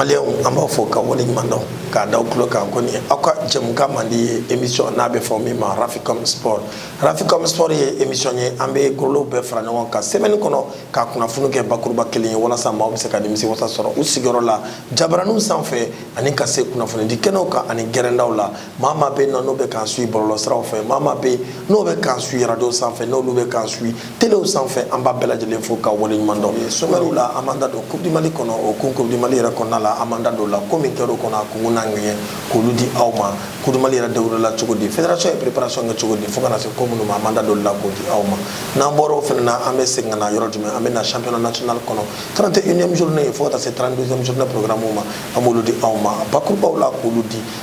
maliyɛnw an b'aw fo k'aw wale ɲuman dɔn k'a da aw tulo kan ko nin aw ka jɛmukan mandi ye émission n'a bɛ fɔ min ma raficom sport raficom sport ye émission ye an bɛ golow bɛɛ fara ɲɔgɔn kan semaine kɔnɔ ka kunnafoni kɛ bakuruba kelen ye walasa maaw bɛ se ka nimisi wasa sɔrɔ u sigiyɔrɔ la jabaraninw sanfɛ ani ka se kunnafonidi kɛnɛw kan ani gɛrɛndaw la maa maa bɛ yen nɔ n'o bɛ k'an suit bɔlɔlɔsiraw fɛ maa maa bɛ yen n'o bɛ k'an suit radio sanfɛ n'olu bɛ k'an suit telew sanfɛ an b'aw bɛɛ lajɛlen fo k'aw waleɲuman dɔn sommairew la an b'an da don coupe du mali kɔnɔ o kun coupe du mali yɛrɛ kɔnɔna la an b'an da don o la ko min kɛra o kɔnɔ a kunkun n'a ŋɛɲɛ k'olu di aw ma coupe du mali yɛrɛ dabɔra cogo di fédération ye préparation kɛ cogo di fo ka na se ko minnu ma an b'an da don o la k'o di aw ma n'an bɔra o fana na an bɛ segin ka na yɔrɔ jumɛn an bɛ na championnat national kɔnɔ 31ième journée fo ka taa se 32ième journée programme ma an b'olu di aw ma bakurubaw la k'olu di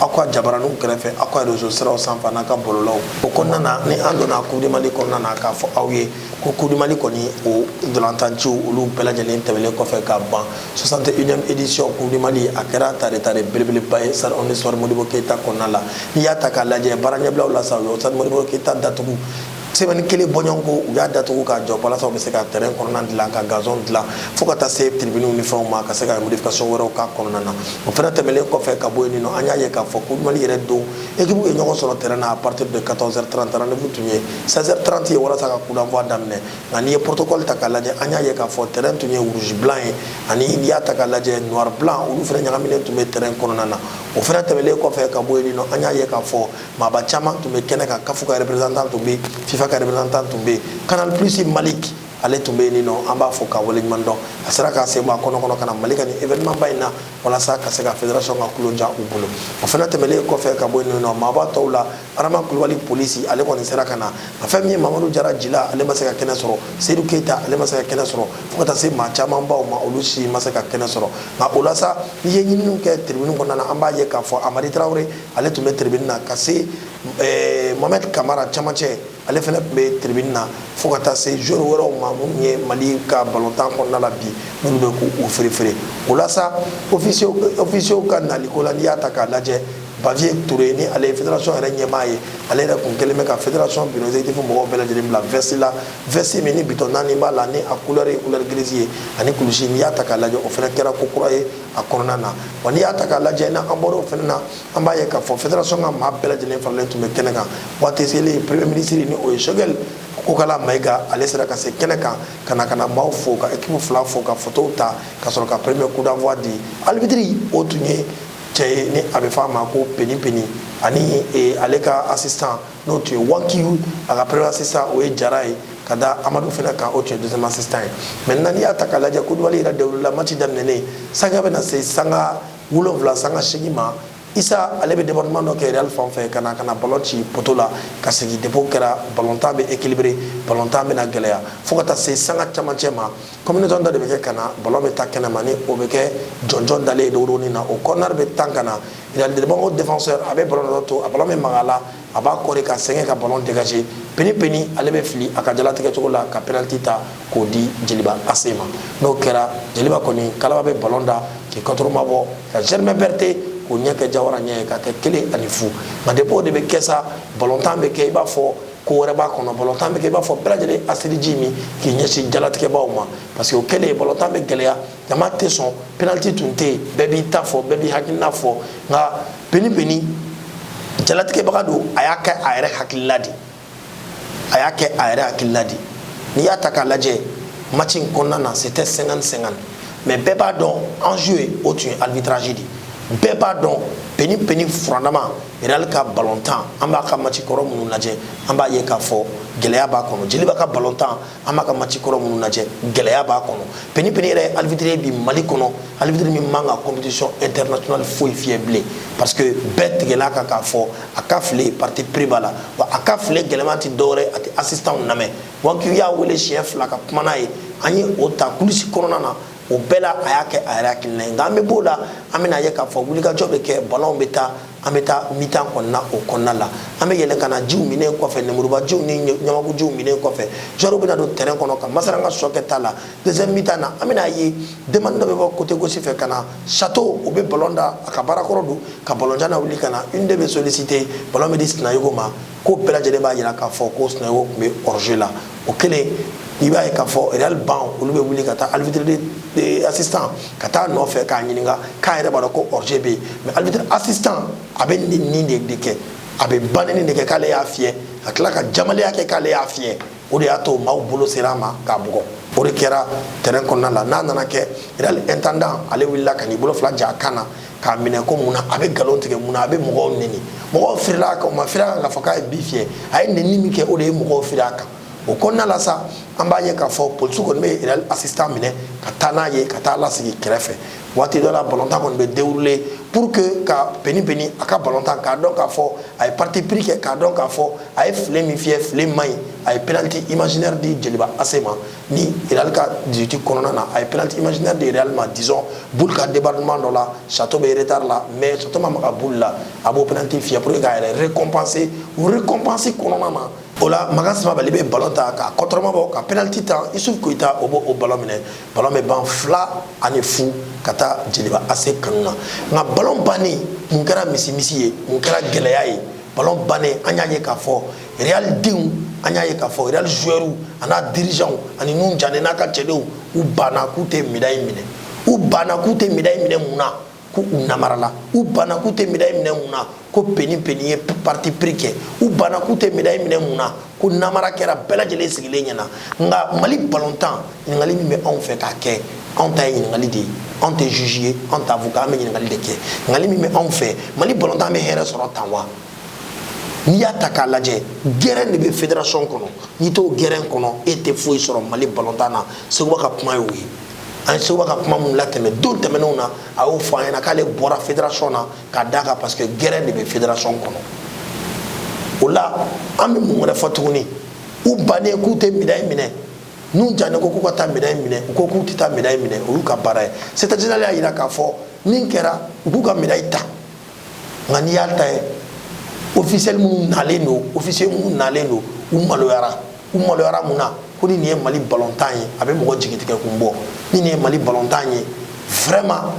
aw ka jabaraninw kɛrɛfɛ aw ka réseau siraw sanfɛ n'aw ka bɔlɔlɔw o kɔnɔna na ni an donna coupe du mali kɔnɔna na k'a fɔ aw ye ko coupe du mali kɔni o ntolatan ciw olu bɛɛ lajɛlen tɛmɛlen kɔfɛ ka ban 61ième édition coupe du mali a kɛra tare tare belebeleba ye stade omnisports modibo keyita kɔnɔna la n'i y'a ta k'a lajɛ baara ɲɛbilaw la sa o stade modibo keyita datugu semaine kelen bɔɲɔgɔnko u y'a datugu k'a jɔ walasa u bɛ se ka tɛrɛn kɔnɔna dilan ka gazɔn dilan fo ka taa se tiribiniw ni fɛnw ma ka se ka modification wɛrɛw k'a kɔnɔna na o fana tɛmɛlen kɔfɛ ka bɔ yen nɔ an y'a ye k'a fɔ ko mali yɛrɛ don ekipuw ye ɲɔgɔn sɔrɔ tɛrɛn na à partir de 14 heures 30 rendez-vous tun ye 16 heures 30 ye walasa ka coup d'envoi daminɛ nka n'i ye protocole ta k'a lajɛ an y'a ye k'a fɔ tɛrɛn tun ye rouge blanc ye ani n'i y'a ta k'a lajɛ noir blanc olu fana ɲagaminen tun bɛ tɛrɛn kɔnɔna na o fana tɛmɛlen kɔfɛ ka bɔ yen nɔ an y'a ye k'a fɔ maaba caman tun bɛ kɛnɛ kan kafu ka représentant tun bɛ yen fifa ka représentant tun bɛ yen canal plus malik ale tun bɛ yen nɔ an b'a fo k'a waleɲuman dɔn a sera k'a sen bɔ a kɔnɔ kɔnɔ ka na mali ka nin événement ba in na walasa ka se ka fédération ka tulon diya u bolo o fana tɛmɛlen kɔfɛ ka bɔ yen nɔ maaba tɔw la adama kulubali polisi ale kɔni sera ka na a fɛn min ye mamadu jara jila ale ma se ka kɛnɛ sɔrɔ seyidu keyita ale ma se ka kɛnɛ sɔrɔ fo ka taa se maa camanba ma olu si ma se ka kɛnɛ sɔrɔ nka o la sa n'i ye ɲininiw kɛ tribune kɔnɔna na an b'a ye k'a fɔ hamari tarawele ale tun bɛ tribune na ka se eh, mohamed kamara camancɛ ale fana tun bɛ tribune na fo ka taa se joueur wɛrɛw ma minnu ye mali ka balontan kɔnɔna la bi minnu bɛ k'u ferefere o la sa ofisiyɛliw ka naliko la n'i y'a ta k'a lajɛ bavieux ture ni ale ye fédération yɛrɛ ɲɛmaa ye ale yɛrɛkun kɛlen bɛ ka fédération bureau exécutif mɔgɔw bɛɛ lajɛlen bila vɛsi la vɛsi min ni bitɔn naani b'a la ni a couleur ye couleur grise ye ani kulusi n'i y'a ta k'a lajɛ o fana kɛra ko kura ye a kɔnɔna na wa n'i y'a ta k'a lajɛ n'an an bɔra o fana na an b'a ye k'a fɔ federasɔn ka maa bɛɛ lajɛlen faralen tun bɛ kɛnɛ kan waati selen premier minisiri ni o ye shogɛli kokala mayiga ale sera ka se kɛnɛ kan ka na ka na maaw fo ka ekipu fila fo ka fotow ta ka sɔrɔ ka premier coup d'envoi di alibitiri o tun ye cɛ ye ni a bɛ fɔ a ma ko peni peni ani ale ka assistant n'o tun ye wakiyu a ka premier assistant o ye jara ye ka da amadu fana kan o tun ye deuxième assistant ye maintenant n'i y'a ta k'a lajɛ kulubali yɛrɛ dawulila match daminɛnen sanga bɛna se sanga wolonwula sanga seegin ma isa ale bɛ débordement dɔ kɛ real fan fɛ ka na ka na ballon ci poto la ka segin depuis o kɛra ballon tan bɛ équilibré ballon tan bɛna gɛlɛya fo ka taa se sanga camancɛ ma combinaison dɔ de bɛ kɛ ka na ballon bɛ taa kɛnɛma ni o bɛ kɛ jɔnjɔn dalen ye dogodogonin na o corner bɛ tan ka na Dibagaw défenseur a bɛ balon to balon bɛ maga a la a b'a kɔɔri ka segin ka balon dégagé peni peni ale bɛ fili a ka jalatigɛcogo la ka penaliti ta k'o di jeliba ase ma n'o kɛra jeliba kɔni kala bɛ balon da k'i kɔtɔma bɔ ka germain berete k'o ɲɛ kɛ jawa ɲɛ ye ka kɛ kelen ani fu ma depuis o de bɛ kɛ sa balontan bɛ kɛ i b'a fɔ ko wɛrɛ b'a kɔnɔ balontan bɛ kɛ i b'a fɔ bɛɛ lajɛlen asiji min k'i ɲɛsin jalatigɛbaw ma parce que o kɛlen balontan bɛ gɛlɛya jama tɛ sɔn penaliti tun tɛ yen bɛɛ b'i ta fɔ bɛɛ b'i hakilina fɔ nka peni peni jalatigɛbaga don a y'a kɛ a yɛrɛ hakilila de a y'a kɛ a yɛrɛ hakilila de n'i y'a ta k'a lajɛ match in kɔnɔna na c'était 50 50 mais bɛɛ b'a dɔn enjeu ye o tun ye arbitrage de bɛɛ b'a dɔn peni peni furanama real ka balontan an b'a ka match kɔrɔ minnu lajɛ an b'a ye k'a fɔ gɛlɛya b'a kɔnɔ jeliba ka balontan an b'a ka match kɔrɔ minnu lajɛ gɛlɛya b'a kɔnɔ peni peni yɛrɛ ye arbitre ye bi mali kɔnɔ arbitre min man ka compétition internationale foyi fiyɛ bilen parce que bɛɛ tigɛla kan k'a fɔ a ka file parti pris b'a la wa a ka file gɛlɛman tɛ dɔwɛrɛ a tɛ assistantw lamɛn wa k'i y'a wele siɲɛ fila ka kuma n'a ye an ye o ta kulisi kɔnɔna na o bɛɛ la a y'a kɛ a yɛrɛ hakilina ye nka an bɛ b'o la an bɛna ye k'a fɔ wulikajɔ bɛ kɛ ballon bɛ taa an bɛ taa mi-temps kɔnɔna o kɔnɔna la an bɛ yɛlɛn ka na jiw minɛn kɔfɛ lemurubajiw ni ɲamakujiw minɛn kɔfɛ joueurw bɛna don terrain kɔnɔ ka masara ka sɔ kɛ ta la deuxième mi-temps na an bɛna ye demande dɔ bɛ bɔ côté gauche fɛ ka na château o bɛ ballon da a ka baara kɔrɔ don ka ballon jan nawuli ka na une-deux bɛ solliciter ballon bɛ di sinayogo ma ko bɛɛ lajɛlen b'a jira k'a fɔ ko sinayogo tun bɛ hors-jeu la o kelen i b'a ye k'a fɔ real banc olu bɛ wuli ka taa arbitre assistant ka taa nɔfɛ k'a ɲininka k'a yɛrɛ b'a dɔn ko hors-jeu bɛ yen mais arbitre assistant a bɛ neni de kɛ a bɛ ba neni de kɛ k'ale y'a fiyɛ ka tila ka jamaleya kɛ k'ale y'a fiyɛ o de y'a to maaw bolo sera a ma k'a bugɔ o de kɛra terrain kɔnɔna la n'a nana kɛ real intendant ale wulila ka n'i bolo fila ja a kan na k'a minɛ ko mun na a bɛ nkalon tigɛ mun na a bɛ mɔgɔw neni mɔgɔw firila a kan u ma firi a kan k'a fɔ k'a ye bi fiyɛ a ye neni min kɛ o de ye mɔgɔw firi a kan o kɔnɔna la sa an b'a ye k'a fɔ polisi kɔni bɛ real assistant minɛ ka taa n'a ye ka taa lasigi kɛrɛfɛ waati dɔ la balontan kɔni bɛ dérouler pour que ka peni peni a ka balontan k'a dɔn k'a fɔ a ye parti pris kɛ k'a dɔn k'a fɔ a ye file min fiyɛ file man ɲi a ye penaliti imaginaire di jeliba ase ma ni Real ka 18 kɔnɔna na a ye penalty imaginaire di Real ma disons boule ka débordement dɔ la Chateau bɛ retard la mais Chateau ma maga boule la a b'o penalty fiyɛ pour que k'a yɛrɛ récompenser o récompense kɔnɔna na o la Makan Samabali bɛ ballon ta ka kɔtɔrɔma bɔ ka penalty ta Isuf Koyita o b'o o ballon minɛ ballon bɛ ban fila ani fu ka taa Jeliba AC kanu na nka ballon bannen mun kɛra misimisi ye mun kɛra gɛlɛya ye ballon bannen an y'a ye k'a fɔ Realidenw an y'a ye k'a fɔ reali zuwɛriw an'a dirizanw ani Nuhun Jane n'a ka cɛdenw u banna k'u tɛ medayi minɛ u banna k'u tɛ medayi minɛ mun na ko u namarala u banna k'u tɛ medayi minɛ mun na ko Peni ye parti pris kɛ u banna k'u tɛ medayi minɛ mun na ko namara kɛra bɛɛ lajɛlen sigilen ɲɛna nka mali balontan ɲininkali min bɛ anw fɛ k'a kɛ anw ta ye ɲininkali de ye anw tɛ zuzi ye anw tɛ avoka ye an bɛ ɲininkali de kɛ ɲininkali min bɛ anw fɛ mali balontan bɛ hɛrɛ sɔrɔ tan wa n'i y'a ta k'a lajɛ gɛrɛn de bɛ federation kɔnɔ n'i t'o gɛrɛn kɔnɔ e tɛ foyi sɔrɔ mali balontan na seguba ka kuma y'o ye an ye seguba ka kuma minnu latɛmɛ don tɛmɛnenw na a y'o fɔ an ɲɛna k'ale bɔra federation na ka d'a kan parce que gɛrɛn de bɛ federation kɔnɔ o la an bɛ mun wɛrɛ fɔ tuguni u bannen k'u tɛ medayi minɛ Nuhun Jane ko k'u ka taa medayi minɛ u ko k'u tɛ taa medayi minɛ o y'u ka baara ye c'est à dire ale y'a jira k'a fɔ min kɛra u k'u ka medayi ta nka n'i y'a ta ye ofisiyɛli minnu nalen don ofisiye minnu nalen don u maloyara u maloyara mun na ko ni nin ye mali balontan ye a bɛ mɔgɔ jigitigɛ kun bɔ ni nin ye mali balontan ye vraiment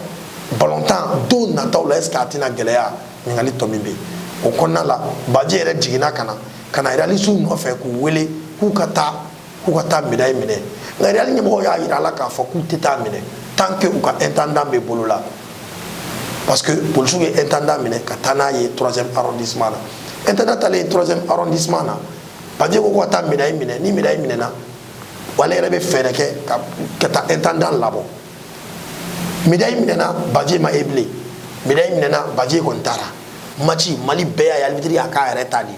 balontan don nataw la est ce que a tɛna gɛlɛya ɲininkali tɔ min bɛ yen o kɔnɔna la baji yɛrɛ jiginna ka na ka na realisiw nɔfɛ k'u wele k'u ka taa k'u ka taa medayi minɛ nka real ɲɛmɔgɔw y'a yira a la k'a fɔ k'u tɛ taa minɛ tant que u ka intendant bɛ bolo la parce que polisiw ye intendant minɛ ka taa n'a ye troisième arrondissement na intendant taalen troisième arrondissement na baje ko k'u ka taa medayi minɛ ni medayi minɛna ale yɛrɛ bɛ fɛɛrɛ kɛ ka ka taa intendant labɔ medayi minɛna baje ma ye bilen medayi minɛna baje kɔni taara match mali bɛɛ y'a ye alibitiri y'a k'a yɛrɛ ta de ye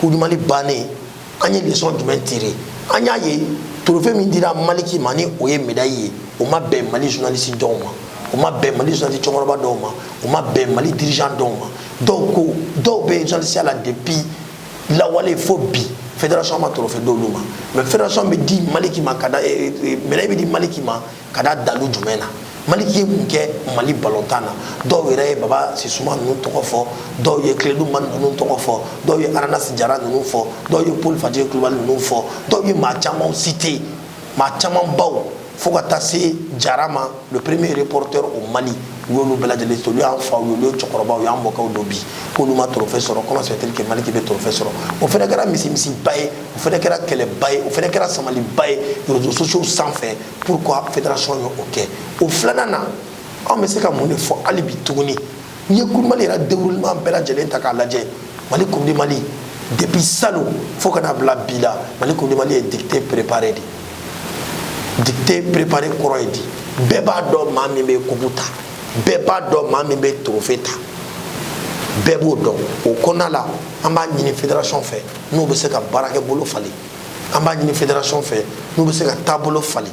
coupe du mali bannen an ye lesɔn jumɛn tire an y'a ye torofe min dira maliki ma ni o ye medayi ye o ma bɛn mali journalisi dɔw ma o ma bɛn mali journalisi cɛkɔrɔba dɔw ma o ma bɛn mali dirigeant dɔw ma donc dɔw bɛ journalisiya la depuis lawale fo bi fédération ma torofe d'olu ma mais fédération bɛ di maliki ma ka da eh, eh, medayi bɛ di maliki ma ka da dalu jumɛn na maliki ye mun kɛ mali balontan na dɔw yɛrɛ ye baba sisuma ninnu tɔgɔ fɔ dɔw ye kiledu mani ninnu tɔgɔ fɔ dɔw ye aranasi jara ninnu fɔ dɔw ye paul faje kulubali ninnu fɔ dɔw ye maa camanw citer maa caman baw fo ka taa se jara ma le premier reporter au mali u y'olu bɛɛ lajɛlen sɔrɔ olu y'an faw ye olu ye cɛkɔrɔbaw u y'an mɔkɛw don bi k'olu ma trophée sɔrɔ comment se fait-il que maliki bɛ trophée sɔrɔ o fana kɛra émissionba ye o fana kɛra kɛlɛba ye o fana kɛra samaliba ye réseaux sociaux sanfɛ pourquoi fédération ye o kɛ o filanan na anw bɛ se ka mun de fɔ hali bi tuguni n'i ye coupe du mali yɛrɛ déroulement bɛɛ lajɛlen ta k'a lajɛ mali coupe du mali depuis salon fo ka na bila bi la mali coupe du mali ye dictée préparée de dictée préparée kɔrɔ ye di bɛɛ b'a dɔn maa min bɛ kupu ta bɛɛ b'a dɔn maa min bɛ trophée ta bɛɛ b'o dɔn o kɔnɔna la an b'a ɲini fédération fɛ n'u bɛ se ka baarakɛbolo falen an b'a ɲini fédération fɛ n'u bɛ se ka taabolo falen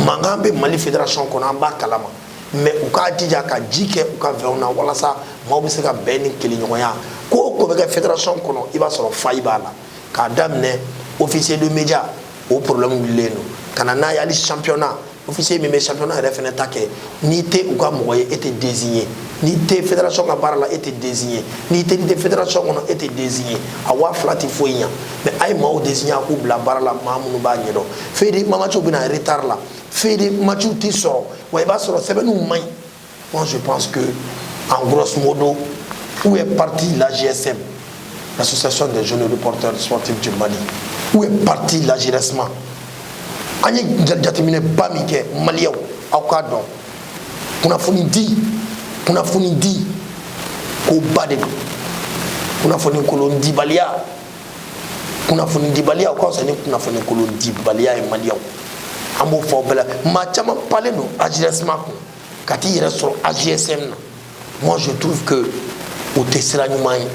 mankan bɛ mali fédération kɔnɔ an b'a kalama mais u k'a jija ka ji kɛ u ka vɛnw na walasa maaw bɛ se ka bɛn ni keleɲɔgɔnya ko o ko bɛ kɛ fédération kɔnɔ i b'a sɔrɔ faille b'a la k'a daminɛ officier de média o problème wulilen don ka na n'a ye hali championnat officier min bɛ championnat yɛrɛ fana ta kɛ n'i tɛ u ka mɔgɔ ye e tɛ désigné n'i tɛ fédération ka baara la e tɛ désigné n'i tɛ n'i tɛ fédération kɔnɔ e tɛ désigné a waa fila tɛ foyi ɲa mais a ye maaw désigné a k'u bila baara la maa minnu b'a ɲɛdɔn feuille de matchw bɛ na retard la feuille de matchw tɛ sɔrɔ wa i b'a sɔrɔ sɛbɛnniw man ɲi Moi, je pense que, en grosso modo, où est partie la GSM, l'Association des jeunes reporters sportifs du Mali Où est partie l'AJRSM An ye jateminɛ ba min kɛ maliyɛw aw k'a dɔn kunnafoni di kunnafoni di ko ba de don kunnafoni kolon dibaliya kunnafoni dibaliya o ka fisa ni kunnafoni kolon dibaliya ye maliyɛw an b'o fɔ aw bɛɛ la maa caman panlen don AJRSM kun ka t'i yɛrɛ sɔrɔ ajsm na moi je trouve que o tɛ sira ɲuman ye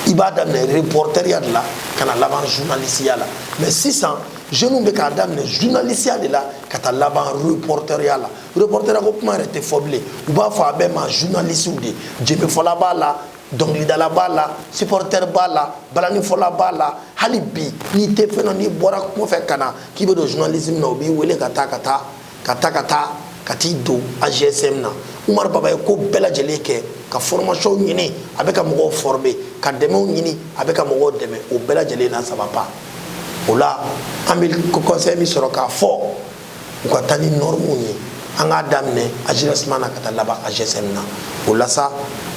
i b'a daminɛ reportɛriya de la ka na laban journalisiya la mais sisan jeunes bɛ k'a daminɛ journalisiya de la ka taa laban reportɛriya la reportɛriya ko kuma yɛrɛ tɛ fɔ bilen u b'a fɔ a bɛɛ ma journalisiw de jenbefɔla b'a la dɔnkilidala b'a la supportɛr b'a la balanifɔla b'a la hali bi n'i tɛ fɛn dɔn n'i bɔra kungo fɛ ka na k'i bɛ don journalisme na u b'i wele ka taa ka taa ka taa ka taa ka t'i don ajsm na umar baba ye ko bɛɛ lajɛlen kɛ ka formation ɲini a bɛ ka mɔgɔw former ka dɛmɛw ɲini a bɛ ka mɔgɔw dɛmɛ o bɛɛ lajɛlen na ça va pas o la an bɛ conseil min sɔrɔ k'a fɔ u ka taa ni normes ye an k'a daminɛ ajrsm na ka taa laban ajsm na o la sa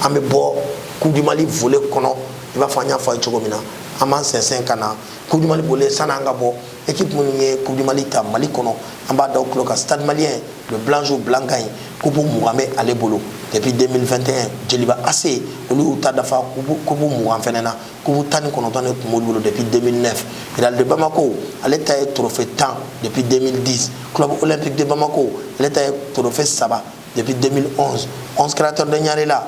an bɛ bɔ coupe du mali volet kɔnɔ i b'a fɔ an y'a fɔ a ye cogo min na an b'an sɛnsɛn ka na coupe du mali volet san'an ka bɔ équipe minnu ye coupe du mali ta mali kɔnɔ an b'a da aw tulo kan stade malien le blanc joue blanc gagne coupe mugan bɛ ale bolo depuis 2021 jeliba ac olu y'u ta dafa coupe mugan fɛnɛ na coupe tan ni kɔnɔntɔn de tun b'olu bolo depuis 2009 real de bamako ale ta ye trophée tan depuis 2010 club olympique de bamako ale ta ye trophée saba depuis 2011 11 créateur de ɲarela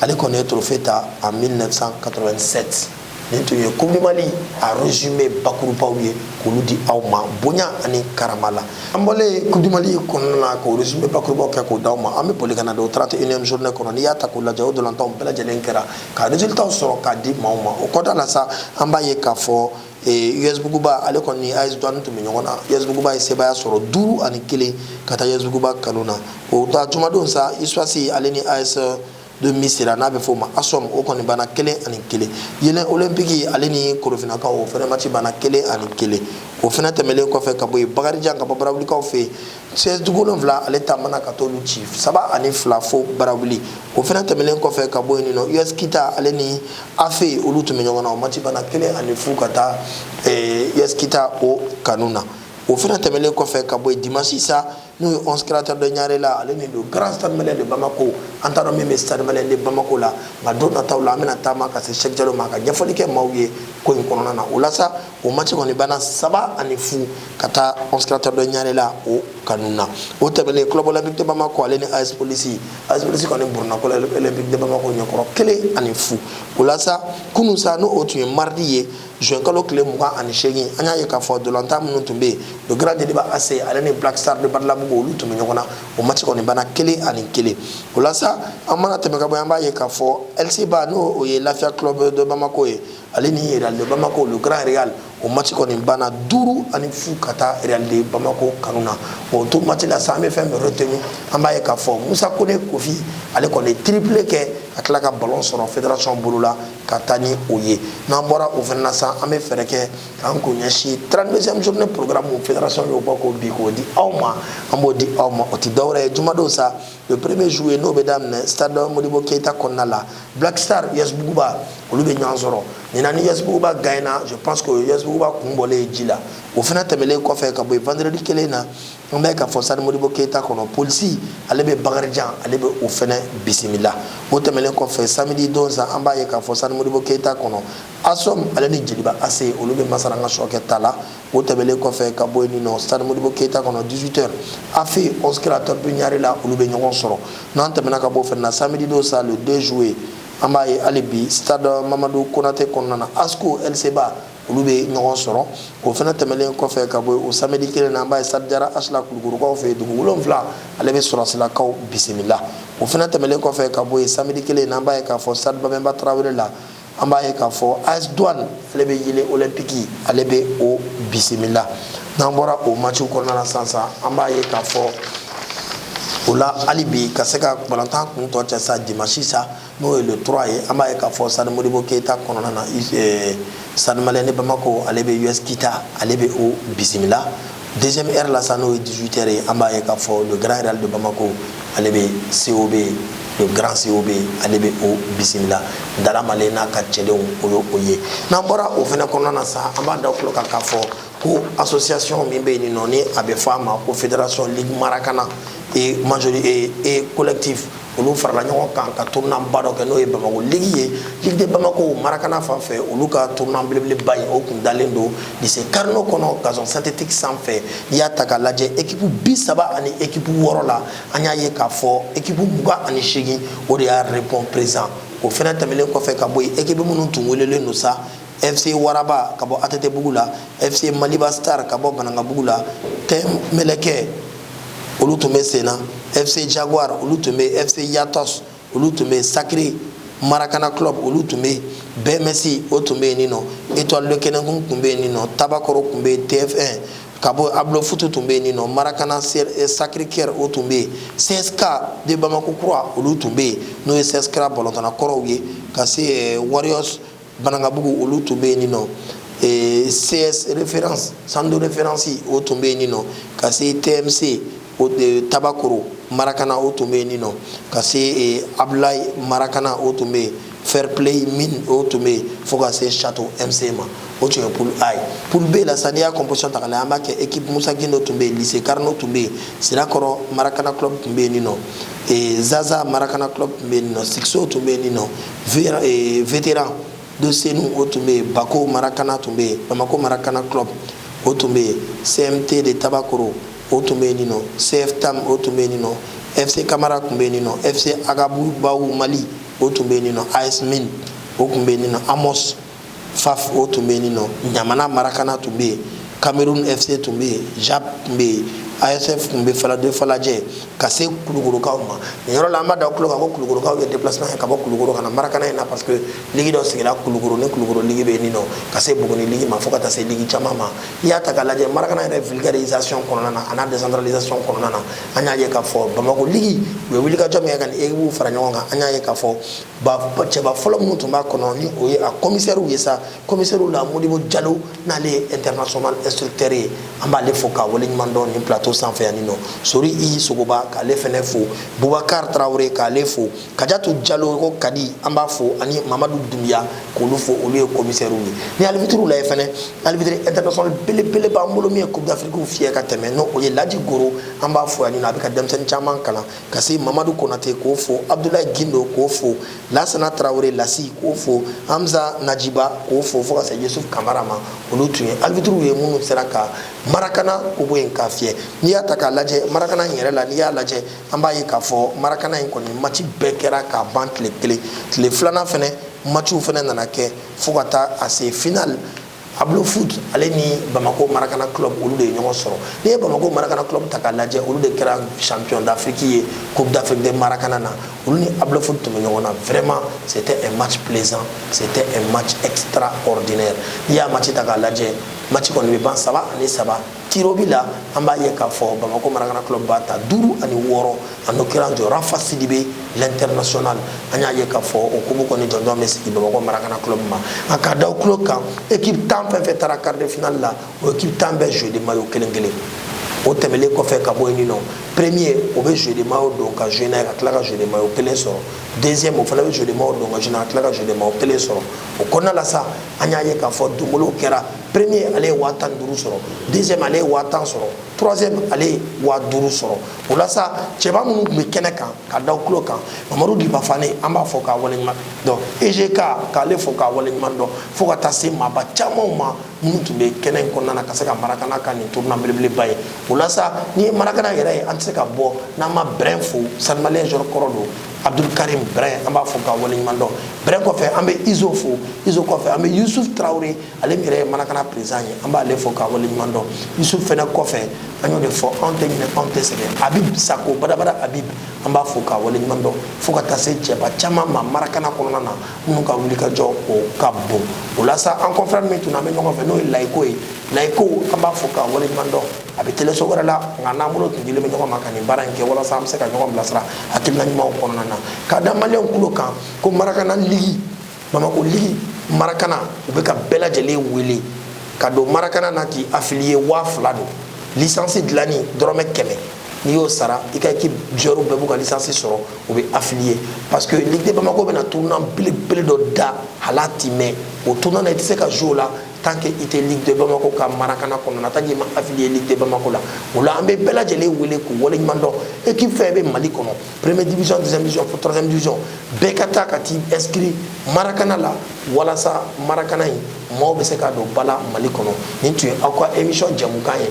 ale kɔni ye trophée ta en 1987 nin tun ye coupe du mali a résumé bakurubaw ye k'olu di aw ma bonya ani karama la an bɔlen coupe du mali kɔnɔna na k'o résumé bakurubaw kɛ k'o d'aw ma an bɛ boli ka na don 31e journée kɔnɔ n'i y'a ta k'o lajɛ o ntolatanw bɛɛ lajɛlen kɛra ka résultatw sɔrɔ k'a di maaw ma o kɔda la sa an b'a ye k'a fɔ us buguba ale kɔni ni as douane tun bɛ ɲɔgɔn na us buguba ye sebaaya sɔrɔ duuru ani kelen ka taa us buguba kanu na o taa jumadon sa usfas ale ni as de misira n'a bɛ f'o ma asom o kɔni banna kelen ani kelen yeelen olympique ale ni korofinakaw o fɛnɛ match banna kelen ani kelen o fɛnɛ tɛmɛlen kɔfɛ ka bɔ yen bakarijan ka bɔ barawulikaw fɛ yen cs duguwolonfila ale taamana ka t'olu ci saba ani fila fo barawuli o fana tɛmɛnen kɔfɛ ka bɔ yen nɔ us kita ale ni afe olu tun bɛ ɲɔgɔn na o match banna kelen ani fu ka taa us kita o kanu na o fana tɛmɛnen kɔfɛ ka bɔ yen dimansi sa n'o ye onze créateur de ɲarela ale ni le grand stade malien de bamako an t'a dɔn min bɛ stade malien de bamako la nka don nataw la an bɛna taama ka se cheick jalo ma ka ɲɛfɔli kɛ maaw ye ko in kɔnɔna na o la sa o match kɔni banna saba ani fu ka taa onze créateur de ɲarela o kanu na o tɛmɛnen club olympique de bamako ale ni as polisi as polisi kɔni buruna club olympique de bamako ɲɛkɔrɔ kelen ani fu o la sa kunu sa n'o o tun ye mardi ye juin kalo tile mugan ani seegin an y'a ye k'a fɔ ntolatan minnu tun bɛ yen le grand jeliba ac ale ni black star de badalabugu olu tun bɛ ɲɔgɔn na o match kɔni banna kelen ani kelen o la sa an mana tɛmɛ ka bɔ yen an b'a ye k'a fɔ lcba n'o o ye lafiya club de bamako ye ale ni Real de Bamako le grand Real o match kɔni banna duuru ani fu ka taa Real de Bamako kanu na o to match la sa an bɛ fɛn min retenir an b'a ye k'a fɔ Musa Kone Kofi ale kɔni ye triplé kɛ ka tila ka ballon sɔrɔ fédération bolo la ka taa ni o ye n'an bɔra o fana na sa an bɛ fɛɛrɛ kɛ k'an kun ɲɛsin 32e journée programme fédération y'o bɔ k'o bi k'o di aw ma an b'o di aw ma o tɛ dɔwɛrɛ ye jumadon sa le premier juillet n'o bɛ daminɛ stade modibo keyita kɔnɔna la black star us buguba olu bɛ ɲɔgɔn sɔrɔ nin na ni us buguba gagnera je pense que o ye us buguba kun bɔlen ye ji la o fana tɛmɛlen kɔfɛ ka bɔ yen vendredi kelen na an b'a ye k'a fɔ stade modibo keyita kɔnɔ polisi ale bɛ bakarijan ale bɛ o fana bisimila o tɛmɛlen kɔfɛ samedi don sa an b'a ye k'a fɔ stade modibo keyita kɔnɔ asom ale ni jeliba ac olu bɛ masaranga sɔkɛ ta la o tɛmɛlen kɔfɛ ka bɔ yen nin nɔ stade modibo keyita kɔnɔ 18 heures afe onze créateurs de ɲarela olu bɛ ɲɔgɔn sɔrɔ n'an tɛmɛna ka bɔ o fɛnɛ na samedi don sa le 2 juillet an b'a ye hali bi stade mamadu konate kɔnɔna na asko lcba olu bɛ ɲɔgɔn sɔrɔ o fana tɛmɛlen kɔfɛ ka bɔ o samedi kelen na an b'a ye stade jara h la kulukɔrɔkaw fɛ dugu wolonwula ale bɛ sɔrɔsilakaw bisimila o fana tɛmɛlen kɔfɛ ka bɔ yen samedi kelen na an b'a ye k'a fɔ stade babɛnba tarawele la an b'a ye k'a fɔ as douane ale bɛ yeelen olympique ale bɛ o bisimila n'an bɔra o matchiw kɔnɔna na sisan sa an b'a ye k'a fɔ o la hali bi ka se ka balontan kun tɔ cɛ sa dimanche sa n'o ye le 3 ye an b'a ye k'a fɔ stade modibo keyita kɔnɔna na stade malien de bamako ale bɛ us kita ale bɛ o bisimila deuxième heure la sa n'o ye 18 heures ye an b'a ye k'a fɔ le grand real de bamako ale bɛ cob le grand cob ale bɛ o bisimila dala male n'a ka cɛdenw o ye o ye n'an bɔra o fana kɔnɔna na sa an b'a da aw tulo kan k'a fɔ ko association min bɛ yen nin nɔ ni a bɛ fɔ a ma ko fédération ligue marakana et majorité et collectif olu farala ɲɔgɔn kan ka tournoi ba dɔ kɛ n'o ye bamako ligi ye ligi de bamako marakana fan fɛ olu ka tournoi belebeleba ye o kun dalen don lycée carnot kɔnɔ gazon synthétique san fɛ n'i y'a ta k'a lajɛ ekipu bi saba ani ekipu wɔɔrɔ la an y'a ye k'a fɔ ekipu mugan ani segin o de y'a répond présent o fɛnɛ tɛmɛlen kɔfɛ ka bɔ yen ekipu minnu tun welelen don sa FC Waraba ka bɔ ATT bugu la, FC Maliba Star ka bɔ Banankabugu la, Team Meleke olu tun bɛ sen na, FC Jaguar olu tun bɛ yen, FC Yatos olu tun bɛ yen, Sacré Maracana Club olu tun bɛ yen, BMS o tun bɛ yen nin nɔ, Etoile de Kenenkun tun bɛ yen nin nɔ, Tabakoro tun bɛ yen, TFN ka bɔ Ablo Futu tun bɛ yen nin nɔ, Maracana Sacré-Cœur o tun bɛ yen, CSK de Bamako Kura olu tun bɛ yen n'o ye CSKA balontanna kɔrɔw ye ka se Warriors banankabugu olu tun bɛ yen nin nɔ eh, cs référence centre de référence o tun bɛ yen nin nɔ ka se tmc o eh, tabakoro marakana o tun bɛ yen nin nɔ ka se eh, abdulayi marakana o tun bɛ yen fair play min o tun bɛ yen fo ka se château mc ma o tun ye poule a ye poule b la sa n'i y'a composition ta k'a lajɛ an b'a kɛ équipe musa gindo tun bɛ yen lycée carnot tun bɛ yen sirakɔrɔ marakana club tun bɛ yen nin nɔ zaza marakana club tun bɛ yen nin nɔ sikso tun bɛ yen nin nɔ eh, vétéran de senu o tun bɛ yen bako marakana tun bɛ yen bamako marakana club o tun bɛ yen cmt de tabakoro o tun bɛ yen nin nɔ cftam o tun bɛ yen nin nɔ fc kamara tun bɛ yen nin nɔ fc agabubaw mali o tun bɛ yen nin nɔ as min o tun bɛ yen nin nɔ amos faf o tun bɛ yen nɔ ɲamana marakana tun bɛ yen cameroun fc tun bɛ yen jap tun bɛ yen asf tun bɛ falajɛ falajɛ ka se kulukorokaw ma nin yɔrɔ la an b'a da tulo kan ko kulukorokaw ye déplacement kɛ ka bɔ kulukoro ka na marakana in na parce que ligi dɔ sigira kulukoro ni kulukoro ligi bɛ yen nɔ ka se buguni ligi ma fo ka taa se ligi caman ma n'i y'a ta k'a lajɛ marakana yɛrɛ vulgarisation kɔnɔna na a n'a décentralisation kɔnɔna na an y'a ye k'a fɔ bamako ligi u ye wulikajɔ min kɛ ka nin ekipuw fara ɲɔgɔn kan an y'a ye k'a fɔ cɛba fɔlɔ minnu tun b'a kɔnɔ ni o ye a komisɛriw ye sa komisɛriw la modibo jalo n'ale ye international instructeur ye an b'ale fo k'a waleɲuman dɔn nin plateau sanfɛ yanni nɔ sori i sogoba k'ale fɛnɛ fo bubakar tarawele k'ale fo kajatu jalo ko kadi an b'a fo ani mamadu dunbiya k'olu fo olu ye komisɛriw ye ni alibitiriw la ye fɛnɛ alibitiri international belebele b'an bolo min ye coupe d'afrique fiyɛ ka tɛmɛ n'o ye laji goro an b'a fo yanni nɔ a bɛ ka denmisɛnnin caman kalan ka se mamadu konate k'o fo abdulayi gindo k'o fo lasana tarawele lasi k'o fo hamza najiba k'o fo fo ka se yusuf kamara ma olu tun ye alibitiriw ye minnu sera ka marakana ko bɔ yen k'a fiyɛ n'i y'a ta k'a lajɛ marakana in yɛrɛ la n'i y'a lajɛ an b'a ye k'a fɔ marakana in kɔni mati bɛɛ kɛra k'a ban tile kelen tile filanan fɛnɛ matiw fɛnɛ nana kɛ fo ka taa a se final ablo foot ale ni bamako marakana club olu de ye ɲɔgɔn sɔrɔ n'i ye bamako marakana club ta k'a lajɛ olu de kɛra champion d'afrique ye coupe d'afrique de marakana na olu ni ablo foot tun bɛ ɲɔgɔn na vraiment c'était un match plaisant c'était un match extraordinaire n'i y'a match ta k'a lajɛ match kɔni bɛ ban saba ani saba tirobi la an b'a ye k'a fɔ bamakɔ marakana club b'a ta duuru ani wɔɔrɔ en l'occurrence de rafa sidibe l'international an y'a ye k'a fɔ o kupu kɔni jɔnjɔn bɛ sigi bamakɔ marakana club ma a ka da kulo kan équipe tan fɛn fɛn taara quart de finale la o équipe tan bɛɛ jeu de maillot kelen kelen o tɛmɛlen kɔfɛ ka bɔ yen nɔ premier o bɛ jeu de maillot don ka jouer n'a ye ka tila ka jeu de maillot kelen sɔrɔ deuxième o fana bɛ jeu de maillot don ka jouer n'a ye ka tila ka jeu de maillot kelen sɔrɔ o kɔnɔna la sa an y'a ye k'a fɔ donbolow kɛra premier ale ye waa tan ni duuru sɔrɔ deuxième ale ye waa tan sɔrɔ troisième ale ye waa duuru sɔrɔ o la sa cɛba minnu tun bɛ kɛnɛ kan ka da tulo kan mamadu dipa fane an b'a fo k'a waleɲuman dɔn egk k'ale fo k'a waleɲuman dɔn fo ka taa se maaba camanw ma minnu tun bɛ kɛnɛ in kɔnɔna na ka se ka marakana ka nin tournoi belebeleba ye o la sa n'i ye marakana yɛrɛ ye an tɛ se ka bɔ n'an ma brɛn fo stade malien joueur kɔrɔ don abdul karim brɛn an b'a fo k'a waleɲuman dɔn brɛn kɔfɛ an bɛ izo fo izo kɔfɛ an bɛ yusuf tarawele ale min yɛrɛ ye marakana perezidan ye an b'ale fo k'a waleɲuman dɔn yusuf fɛnɛ kɔfɛ an y'o de fɔ anw tɛ ɲinɛ anw tɛ sɛgɛn abib sako badabada abib an b'a fo k'a waleɲuman dɔn fo ka taa se cɛba caman ma marakana kɔnɔna na minnu ka wulikajɔ o ka bon o la sa an confrère min tun an bɛ ɲɔgɔn fɛ n'o ye layiko ye layiko an b'a fo k'a waleɲuman dɔn a bɛ teleso wɛrɛ la nka n'an bolo tun dilen bɛ ɲɔgɔn ma ka nin baara in kɛ walasa an bɛ se ka ɲɔgɔn bilasira hakilina ɲumanw kɔnɔna na k'a da maliyɛnw kulo kan ko marakana ligi Bamakɔ ligi marakana u bɛ ka bɛɛ lajɛlen wele ka don marakana na k'i affilier waa fila don lisansi dilanni dɔrɔmɛ kɛmɛ n'i y'o sara i ka équipe joueurs bɛɛ b'u ka lisansi sɔrɔ u bɛ affilier parce que ligue de bamako bɛna tournoi belebele dɔ da hal'a ti mɛɛn o tournoi na i tɛ se ka jouer o la tant que i tɛ ligue de bamako ka marakana kɔnɔna tant k'i ma affilier ligue de bamako la o la an bɛ bɛɛ lajɛlen wele k'u waleɲuman dɔn équipe fɛn bɛ mali kɔnɔ première division deuxième division fo troisième division bɛɛ ka taa ka t'i inscrire marakana la walasa marakana in maaw bɛ se ka don ba la mali kɔnɔ nin tun ye aw ka émission jɛmukan ye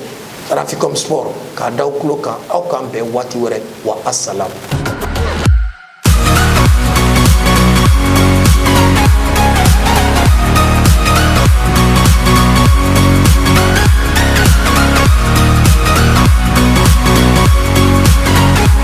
raficom sport k'a da aw tulo kan aw k'an bɛn waati wɛrɛ wa asalamu